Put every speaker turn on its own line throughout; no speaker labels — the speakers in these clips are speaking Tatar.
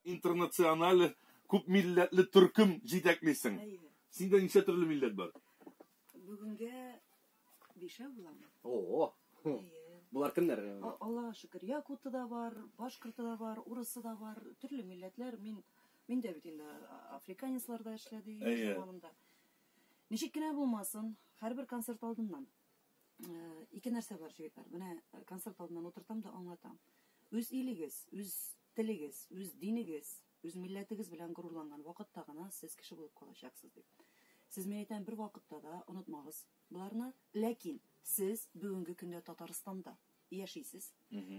Интернациональ күп милләтле төркем җитәклисең. Синдә ничә төрле милләт бар? Бүгенгә бишәү буламы? О. Булар кемнәр? Аллага шөкер, якуты да бар, башкорты да бар, урысы да бар, төрле милләтләр. Мин мин дә бит инде африканецлар да эшләде заманында. Ничек кенә булмасын, һәрбер концерт алдыннан ике нәрсә бар, җегетләр. Менә концерт алдыннан утыртам да аңлатам. Үз илегез, үз Телегез, үз динегез, үз милләтегез белән горурланган вакытта гына сез кеше булып калачаксыз, дип. Сез, мин әйтәм, бервакытта да онытмагыз боларны. Ләкин сез бүгенге көндә Татарстанда яшисез,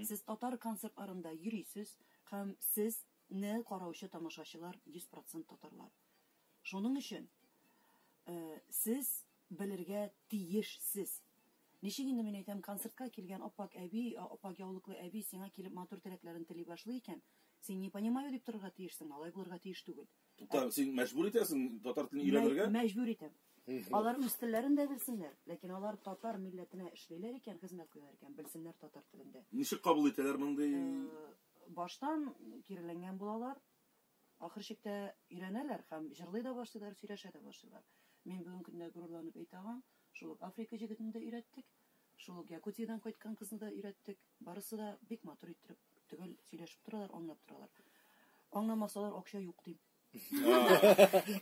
сез татар концертларында йөрисез һәм сез не караучы тамашачылар 100 процент татарлар. Шуның өчен сез белергә тиеш сез. Ничек инде мин әйтәм, концертка килгән ап-ак әби, ап-ак яулыклы әби сиңа килеп матур теләкләрен тели башлый икән, син не понимаю дип торырга тиешсең, алай булырга тиеш түгел. Тукта, син мәҗбүр итәсең татар телен өйрәнергә? Мәҗбүр итәм. Алар үз телләрен дә белсеннәр, ләкин алар татар милләтенә эшлиләр икән, хезмәт куялар икән, белсеннәр татар телен дә. Ничек кабул итәләр мондый? Баштан киреләнгән булалар, Ахыр чиктә өйрәнәләр һәм җырлый да башлыйлар, сөйләшә дә башлыйлар. Мин бүгенге көндә горурланып әйтә алам, шул ук Африка җегетен дә өйрәттек, шул ук Якутиядән кайткан кызны да өйрәттек. Барысы да бик матур иттереп, төгәл сөйләшеп торалар, аңлап торалар. Аңламасалар, акча юк, дим.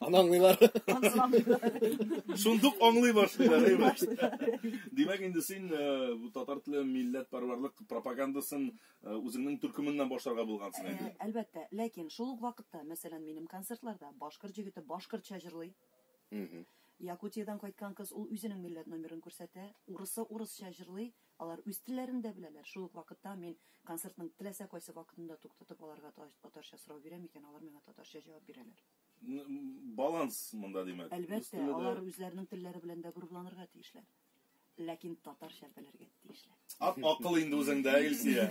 Аны аңлыйлар. Аны аңлыйлар. Шундук аңлый башлыйлар, әйбәт. Димәк, инде син бу татар теле милләтпәрвәрлек пропагандасын Үзеңнең төркеменнән башларга булгансың инде. Ә, әлбәттә. Ләкин шул ук вакытта, мәсәлән, минем концертларда башкорт җегете башкортча җырлый. Якутиядән кайткан кыз, ул үзенең милләт номерын күрсәтә. Урысы урысча җырлый. Алар үз телләрен дә беләләр. Шул ук вакытта мин концертның теләсә кайсы вакытында туктатып, аларга татарча сорау бирәм икән, алар миңа татарча җавап бирәләр. Баланс монда, димәк. Әлбәттә, алар үзләренең телләре белән дә горурланырга тиешләр. Ләкин татарча белергә тиешләр. Ак акыл инде үзеңдә, Илсия.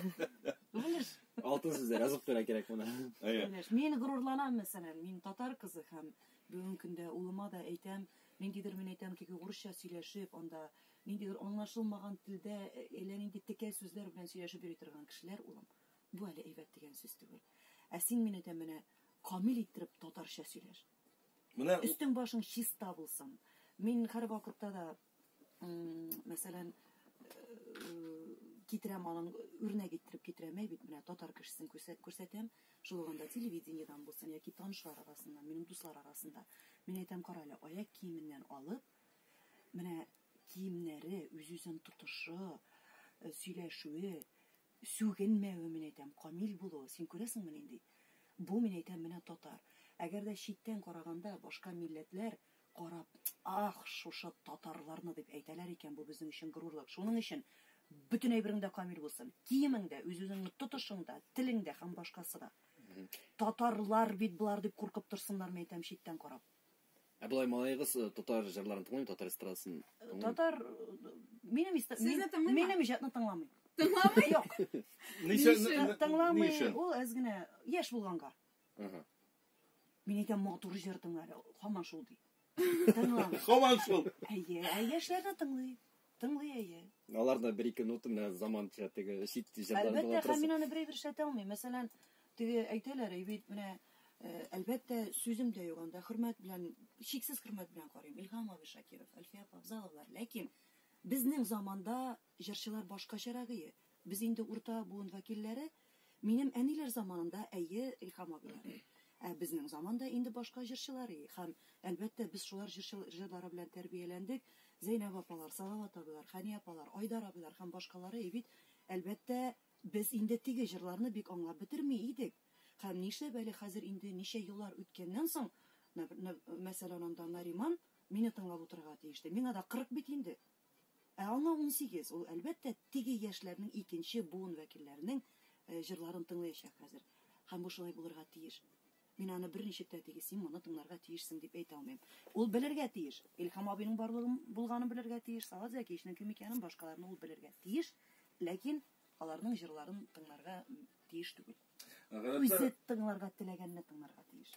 Белеш. Алтын сүзләр язып кына кирәк моны. Әйе. Белеш. Мин горурланам, мәсәлән, мин татар кызы һәм бүгенге көндә улыма да әйтәм, ниндидер мин әйтәм, тик урысча сөйләшеп, анда ниндидер аңлашылмаган телдә э, әллә нинди текә сүзләр белән сөйләшеп йөри торган кешеләр, улым, бу әле әйбәт дигән сүз түгел. Ә син мине әйтәм, менә камил иттереп татарча сөйләш. Менә Өстең башың чиста булсын. Мин һәрвакытта да, мәсәлән, китерәм аның үрнәк иттереп китерәм әй бит менә татар кешесен күрсәтәм шул уганда телевидениедән булсын яки танышлар арасында минем дуслар арасында мин әйтәм кара әле аяк киеменнән алып менә киемнәре үз үзен тотышы сөйләшүе Сүгенмәве, мин әйтәм, камил булуы. Син күрәсеңме нинди? Бу, мин әйтәм, менә татар. Әгәр дә читтән караганда, башка милләтләр карап, Ах, шушы татарларны, дип әйтәләр икән, бу безнең өчен горурлык. Шуның өчен бөтен әйберең дә камил булсын. Киемең дә, үз-үзеңне тотышың да, телең дә һәм башкасы да. Татарлар бит болар, дип куркып торсыннар, мин әйтәм, читтән карап. Ә болай малаегыз э, татар җырларын тыңлый, татар эстрадасын тыңлый. Татар э, минем иста- Сезне мин- тыңлыймы? минем иҗатны тыңламый. Тыңламый? Юк, Ничә- Ничә? н- н- ни тыңламый. өчен? Ул әз генә яшь булганга. Ага. Мин әйтәм, матур җыр тыңлар, һаман шул ди. Тыңламый. Һаман шул. Әйе, ә яшьләр дә тыңлый. Тыңлый, әйе. Алар да бер-ике нота менә заманча теге чит җырларын була Әлбәттә, һәм мин аны берәй бер эшләтә алмыйм. Мәсәлән, теге әйтәләр, әй бит менә э, әлбәттә сүзем дә юк анда. Хөрмәт белән, чиксез хөрмәт белән карыйм. Илһам абый Шакиров, Әлфия апа Авзаловлар. Ләкин безнең заманда җырчылар башкачарагые. Без инде урта буын вәкилләре, Минем әниләр заманында, әйе, Илһам абыйлары. Ә безнең заманда инде башка җырчылар и. Һәм, әлбәттә, без шулар җырчы җырлары белән тәрбияләндек. Зәйнәб апалар, Салават абыйлар, Хәни апалар, Айдар абыйлар һәм башкалары и бит. Әлбәттә, без инде теге җырларны бик аңлап бетерми идек. Һәм нишләп әле хәзер инде ничә еллар үткәннән соң, мәсәлән, анда Нариман мине тыңлап утырырга тиеште. Миңа да 40 бит инде. Ә аңа унсигез, ул, әлбәттә, теге яшьләрнең икенче буын вәкилләренең җырларын тыңлыячак хәзер. Һәм бу шулай булырга тиеш. Мин аны берничек тә теге син моны тыңларга тиешсең дип әйтә алмыйм. Ул белергә тиеш. Илһам абыйның барлыгын булганын белергә тиеш, Салават Зәкиевичның кем икәнен, башкаларны ул белергә тиеш, ләкин аларның җырларын тыңларга тиеш түгел. Үзе тыңларга теләгәнне тыңларга тиеш.